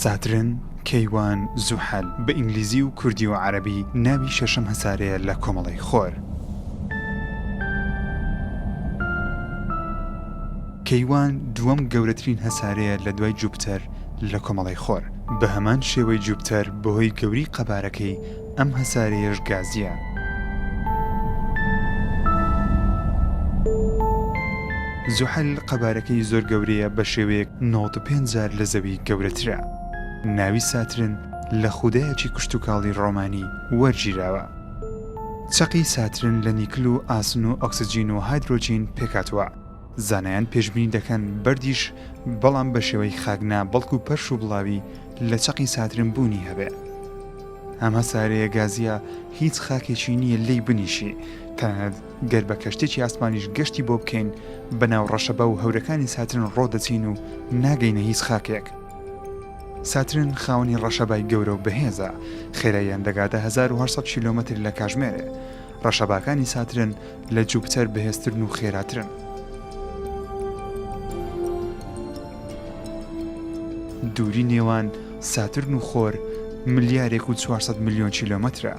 ساترن، کەیوان، زوحەل، بە ئینگلیزی و کوردی و عەرەبی ناوی شەشەم هەسارەیە لە کۆمەڵەی خۆر. کەیوان دووەم گەورەترین هەسارەیە لە دوای جووپتەر لە کۆمەڵەی خۆر بە هەمان شێوەی جووپتەر بەهۆی گەوری قەبارەکەی ئەم هەسارەیەش گازییە. زوحەل قەبارەکەی زۆر گەورەیە بە شێوەیەک نەوەد و پێنج جار لە زەوی گەورەترە. ناوی ساترن لە خودایەکی کشتوکاڵی ڕۆمانی وەرگیراوە. چەقی ساترن لە نیکل و ئاسن و ئۆکسجین و هایدرۆجین پێکهاتووە. زانایان پێشبینی دەکەن بەردیش بەڵام بە شێوەی خاک نا بەڵکو پەرش و بڵاوی لە چەقی ساترن بوونی هەبێ. ئەم هەسارەیە گازییە هیچ خاکێکی نییە لێی بنیشی، تەنانەت گەر بە کەشتێکی ئاسمانیش گەشتی بۆ بکەین بە ناو ڕەشەبا و هەورەکانی ساترن ڕۆ دەچین و ناگەینە هیچ خاکێک. ساترن خاوەنی ڕەشەبای گەورە و بەهێزە، خێراییان دەگاتە هەزار و هەشت سەد کیلۆمەتر لە کاژمێرێ. ڕەشەباکانی ساترن، لە جوپتەر بەهێزترن و خێراترن. دووری نێوان ساترن و خۆر ملیارێک و چوار سەد ملیۆن کیلۆمەترە،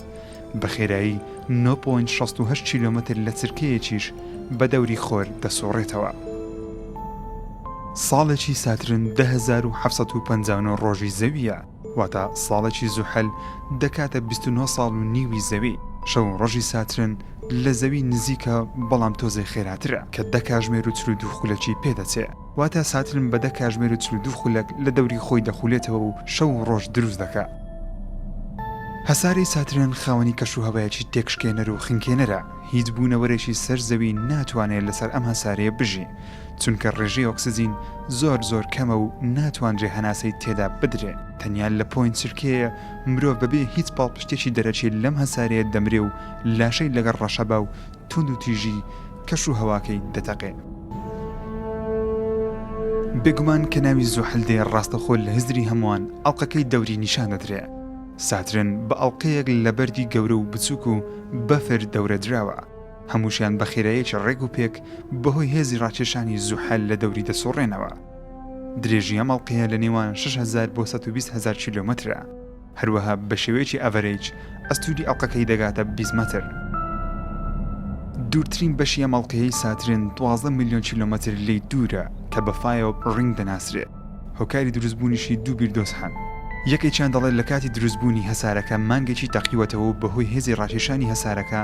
بە خێرایی نۆ پۆینت شەست و هەشت کیلۆمەتر لە چرکەیەکیش بە دەوری خۆر دەسوڕێتەوە. ساڵێکی ساترن دە هەزار و حەفت سەد و پەنجا و نۆ ڕۆژی زەوییە. واتە ساڵێکی زوحەل دەکاتە بیست و نۆ ساڵ و نیوی زەوی، شەو و ڕۆژی ساترن، لە زەوی نزیکە بەڵام تۆزێ خێراترە کە دە کاژمێر و چل و دوو خولەکی پێ دەچێ، واتە ساترن بە دە کاژمێر و چل و دوو خولەک لە دەوری خۆی دەخولێتەوە و شەو و ڕۆژ دروست دەکا. هەسارەی ساترن خاوەنی کەشوهەوایەکی تێکشکێنەر و خنکێنەرە، هیچ بوونەوەرێکی سەر زەوی ناتوانێ لەسەر ئەم هەسارەیە بژی، چونکە ڕێژەی ئۆکسجین زۆر زۆر کەمە و ناتوانرێ هەناسەی تێدا بدرێ. تەنیا لە پۆین چرکەیە مرۆڤ بەبێ هیچ پاڵپشتێکی دەرەکی لەم هەسارەیە دەمرێ و لاشەی لەگەڵ ڕەشەبا و توندوتیژی کەش و هەواکەی دەتەقێ. بێگومان کە ناوی زوحەل دێ ڕاستەخۆ لە هزری هەمووان ئەڵقەکەی دەوری نیشان دەدرێ. ساترن بە ئەڵقەیەک لە بەردی گەورە و بچووک و بەفر دەورە دراوە. هەمووشیان بە خێرایەکی ڕێک و پێک بەهۆی هێزی ڕاکێشانی زوحەل لە دەوری دەسوڕێنەوە. درێژی ئەم ئەڵقەیە لە نێوان شەش هەزار بۆ سەد و بیست هەزار کیلۆمەترە. هەروەها بە شێوەیەکی ئەڤەرەیج ئەستووری ئەڵقەکەی دەگاتە بیست مەتر. دوورترین بەشی ئەم ئەڵقەیەی ساترن دوازدە ملیۆن کیلۆمەتر لێی دوورە کە بە فایۆپ ڕینگ دەناسرێ. هۆکاری دروستبوونیشی دوو بیردۆز هەن. یەکێکیان دەڵێ لە کاتی دروستبوونی هەسارەکە مانگێکی تەقیوەتەوە و بەهۆی هێزی ڕاکێشانی هەسارەکە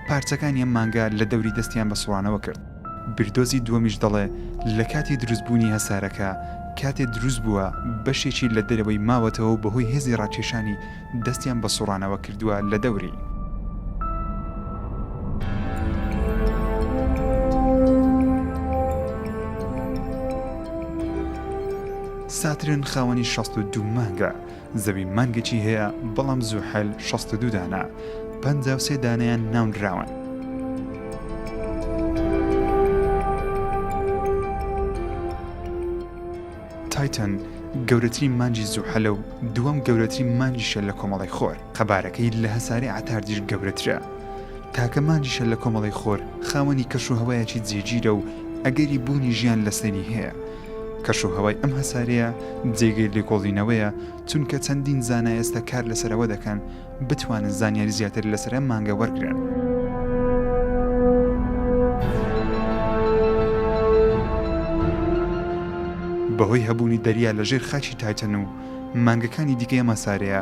پارچەکانی ئەم مانگا لە دەوری دەستیان بە سوڕانەوە کرد. بیردۆزی دووەمیش دەڵێ لە کاتی دروستبوونی هەسارەکە کاتێ دروست بووە بەشێکی لە دەرەوەی ماوەتەوە و بەهۆی هێزی ڕاکێشانی دەستیان بە سوڕانەوە کردووە لە دەوری. ساترن خاوەنی شەست و دوو مانگە زەوی مانگێکی هەیە بەڵام زوحەل شەست و دوو دانە پەنجا و سێ دانەیان ناونراون. تایتەن گەورەترین مانگی زوحەلە و دووەم گەورەترین مانگیشە لە کۆمەڵەی خۆر قەبارەکەی لە هەسارەی عەتاردیش گەورەترە تاکە مانگیشە لە کۆمەڵەی خۆر خاوەنی کەشوهەوایەکی جێگیرە و ئەگەری بوونی ژیان لەسەری هەیە کەش و هەوای ئەم هەسارەیە جێگەی لێکۆڵینەوەیە چونکە چەندین زانا ئێستا کار لەسەر ئەوە دەکەن بتوانن زانیاری زیاتر لەسەر ئەم مانگە وەرگرن. بەهۆی هەبوونی دەریا لەژێر خاکی تایتەن و مانگەکانی دیکەی ئەم هەسارەیە،